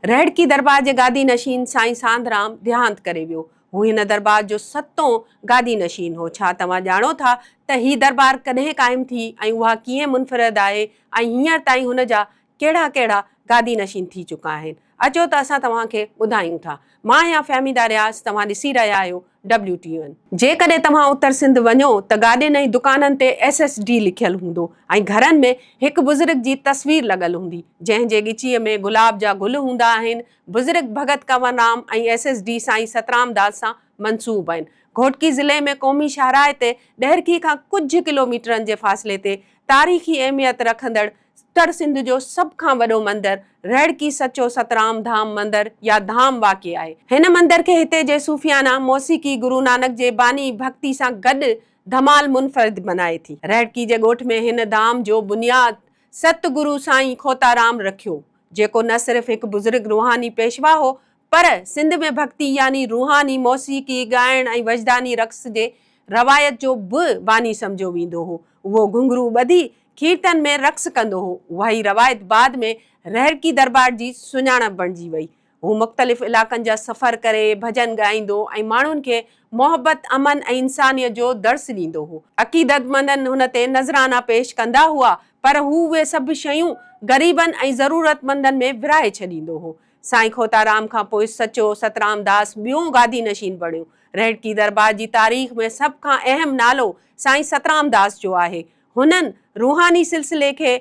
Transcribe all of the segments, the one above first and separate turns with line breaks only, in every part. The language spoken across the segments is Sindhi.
رهڙڪي درٻار جي گادي نشين سائين سانڌرام ديهانت ڪري ويو. هو هن درٻار جو ستون گادي نشين هو. ڇا توهان ڄاڻو ٿا ته هي درٻار ڪڏهن قائم ٿي ۽ اها ڪيئن منفرد آهي ۽ هينئر تائين هن جا ڪهڙا ڪهڙا گادي نشين ٿي چڪا آهن؟ اچو ته اسان توهان کي ٻڌايون ٿا. مان آهيان فهميده رياض توهان ڏسي رهيا آهيو WTON، جيڪڏهن توهان اتر سنڌ وڃو ته گاڏين ۽ دڪانن تي ايس ايس ڊي لکيل هوندو ۽ گهرن ۾ هڪ بزرگ جي تصوير لڳل هوندي جنهن جي ڳچيء ۾ گلاب جا گل هوندا آهن بزرگ Bhagat Kanwar Ram ۽ S S D Sain Satram داس سان منسوب آهن گهوٽڪي ضلعي ۾ قومي شاهراهه تي ڏهرڪي کان ڪجهه ڪلوميٽرن جي فاصلي تي تاريخي اهميت رکندڙ ستر سنڌ جو سڀ کان وڏو مندر رهڙڪي سچو سترام ڌام مندر يا ڌام واقع آهي. هن مندر کي هتي جي صوفيانه موسيقي گرو نانڪ جي باني ڀڳتي سان گڏ ڌمال منفرد بنائي ٿي. رهڙڪي جي ڳوٺ ۾ هن ڌام جو بنياد ست گرو سائين کوتارام رکيو جيڪو نه صرف هڪ بزرگ روحاني پيشوا هو پر سنڌ ۾ ڀڳتي يعني روحاني موسيقي ڳائڻ ۽ وجداني رقص جي روايت جو به باني سمجهيو ويندو هو. اهو گهنگهرو ٻڌي کيرٿن ۾ رقص ڪندو هو. اهائي روايت بعد ۾ رهرڪي درٻار جي سڃاڻپ بڻجي وئي. هو مختلف علائقن جا سفر ڪري ڀڄن ڳائيندو ۽ ماڻهن کي محبت، امن ۽ انسانيت جو درس ڏيندو هو. عقيدتمندن هن تي نذرانا پيش ڪندا هئا پر هو اهي سڀ شيون غريبن ۽ ضرورتمندن ۾ ورهائي ڇڏيندو هو. سائين کوتارام کان پوء سچو سترام داس ٻيون گادي نشين بڻيو. رهڙڪي درٻار جي تاريخ ۾ سڀ کان اهم نالو سائين سترام داس جو آهي. هنن روحاني سلسلي کي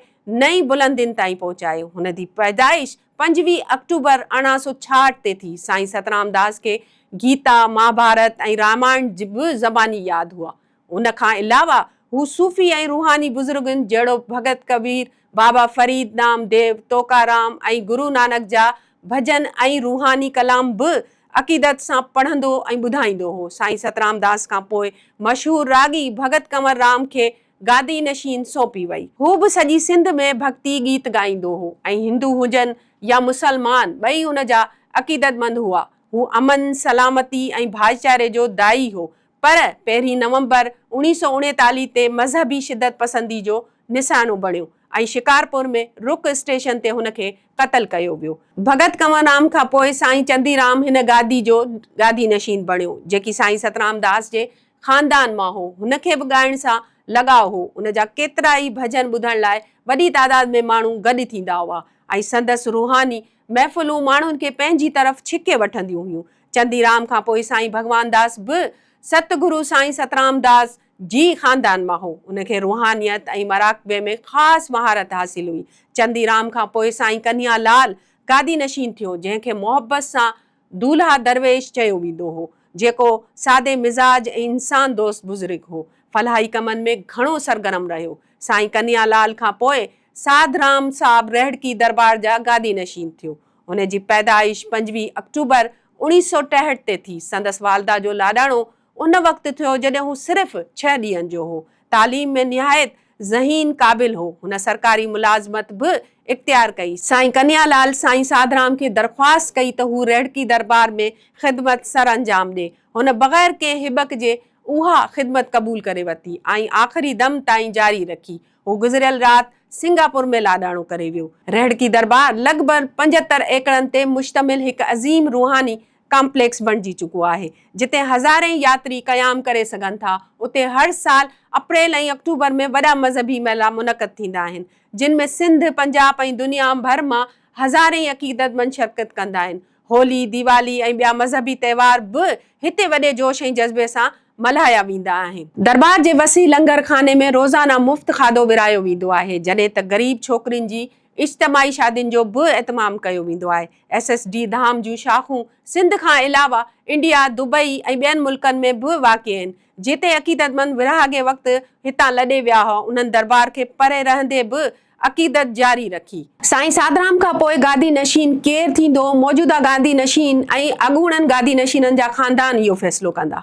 نئين بلندين تائين پهچايو. هن دي پيدائش پنجويهه آڪٽوبر ارڙهن سو ڇاهٺ تي ٿي. سائين سترام داس کي گيتا، مهاڀارت ۽ رامائڻ به زباني ياد هئا. ان کان علاوه هو صوفي ۽ روحاني بزرگن جهڙوڪ ڀڳت ڪبير، بابا فريد، نامديو، توڪارام ۽ گرو نانڪ جا ڀڄن ۽ روحاني ڪلام به عقيدت سان پڙهندو ۽ ٻڌائيندو هو. سائين سترام داس کان پوء مشهور راڳي ڀڳت ڪنور رام کي گادي نشين سونپي وئي. هو به سڄي سنڌ ۾ ڀڳتي گيت ڳائيندو هو ۽ هندو هجن يا مسلمان ٻئي هن جا عقيدتمند هئا. هو امن، سلامتي ۽ ڀائيچاري جو داعي هو. پر پهرين نومبر اوڻيهه سؤ اڻيتاليهه تي مذهبي شدت پسندي جو نساڻو بڻيو ۽ شڪارپور ۾ رڪ اسٽيشن تي هن کي قتل ڪيو ويو. ڀڳت ڪنور رام کان پوء سائين چندي رام هن گادي جو گادي نشين بڻيو، جيڪي سائين سترام داس جي خاندان مان هو. هن کي به ڳائڻ سان لڳاء هو. ان جا ڪيترائي ڀڄن ٻڌڻ لاء وڏي تعداد ۾ ماڻهو گڏ ٿيندا هئا ۽ سندس روحاني محفلون ماڻهن کي پنهنجي طرف ڇڪي وٺنديون هيون. چنديرام کان پوء سائين ڀڳوانداس به ست گرو سائين سترامداس جي خاندان مان هو. ان کي روحانيت ۽ مراقبي ۾ خاص مهارت حاصل هئي. چنديرام کان پوء سائين ڪنهيا لال گادي نشين ٿيو، جنهن کي محبت سان دولهه درويش چيو ويندو هو، جيڪو سادي مزاج ۽ انسان دوست بزرگ هو. فلاحي ڪمن ۾ گهڻو سرگرم رهيو. سائين ڪنيا لال کان پوء ساڌ رام صاحب رهڙڪي درٻار جا گادي نشين ٿيو. هن جي پيدائش پنجويهه آڪٽوبر اوڻيهه سؤ ٽيهٺ تي ٿي. سندس والده جو لاڏاڻو ان وقت ٿيو جڏهن هو صرف ڇهه ڏينهن جو هو. تعليم ۾ نهايت ذهين قابل هو. هن سرڪاري ملازمت به اختيار ڪئي. سائين ڪنهيا لال سائين ساڌرام کي درخواست ڪئي ته هو رهڙڪي دربار ۾ خدمت سر انجام ڏي. هن بغير ڪنهن هٻڪ جي اها خدمت قبول ڪري ورتي ۽ آخري دم تائين جاري رکي. هو گذريل رات سنگاپور ۾ لاڏاڻو ڪري ويو. رهڙڪي دربار لڳ ڀر پنجهتر ايڪڙن تي مشتمل هڪ عظيم روحاني ڪامپليڪس بڻجي چڪو آهي جتي هزارين ياتري قيام ڪري سگهن ٿا اتي هر سال اپريل ۽ آڪٽوبر ۾ وڏا مذهبي ميلا منعقد ٿيندا آهن جن ۾ سنڌ پنجاب ۽ دنيا ڀر مان هزارين عقيدتمند شرڪت ڪندا آهن هولي ديوالي ۽ ٻيا مذهبي تهوار به هتي وڏي جوش ۽ جذبي سان ملهايا ويندا آهن. درٻار جي وسيع لنگر خاني ۾ روزانه مفت کاڌو ورهايو ويندو آهي جڏهن ته غريب ڇوڪرين جي اجتماعي شادين جو به اهتمام ڪيو ويندو آهي. ايس ايس ڊي ڌام جون شاخون سنڌ کان علاوه انڊيا، دبئي ۽ ٻين ملڪن ۾ به واقع آهن. جتي عقيدتمند ورهاڱي وقت هتان لڏي ويا هئا، انهن درٻار کي پري رهندي به عقيدت جاري رکي. سائين سادرام کان پوء گادي نشين ڪير ٿيندو، موجوده گادي نشين ۽ اڳوڻن گادي نشينن جا خاندان اهو فيصلو ڪندا.